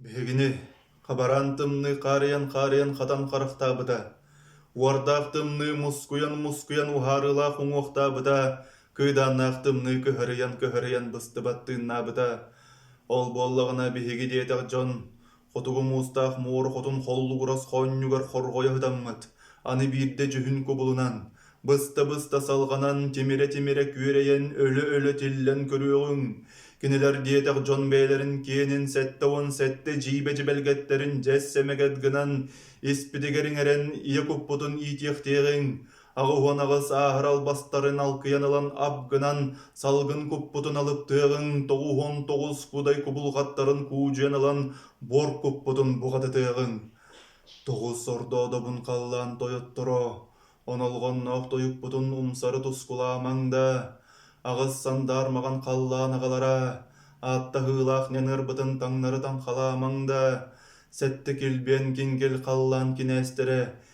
Биһигини хабараан тымныы хаарыйан хаарыйан хатан харахтаабыта, уордаах тымныы мускуйан-мускуйан уһаарыылаах уҥуохтаабыта, кыйдааннаах тымныы көһөрүйэн-көһөрүйэн быстыбат тыыннаабыта. Ол буоллаҕына биһиги диэтэх дьон Хотугу муустаах муор хотун холлугурас хоонньугар хорҕойо сытаммыт, аны биирдэ дьүһүн кубулунан, быста-быста салҕанан, тимирэ-тимирэ күөрэйэн, өлө-өлө тиллэн көрүөҕүҥ. Кинилэр диэтэх дьон бэйэлэрин киэнин сэттэ уон сэттэ дьиибэ дьибэлгэттэрин дьэс сэмэгэт гынан, испитигэр иҥэрэн ийэ куппутун иитиэхтиэҕиҥ. Аҕыһын аҕыс ааһар албастарын алкыйан ылан ап гынан, салгын куппутун алыптыаҕыҥ тоҕуһун тоҕус кудай кубулҕаттарын куудьуйан ылан буор куппутун буҕатытыаҕыҥ. Тоҕус ордоодобун халлаан тойотторо, онолҕонноох тойукпутун умсары тускулаамаҥ да, аҕыс сандаар маҕан халлаан аҕалара, ааттаһыылаах ньаныарбытын таҥнары таҥхалаамаҥ да, сэттэ килбиэн кингил халлаан кинээстэрэ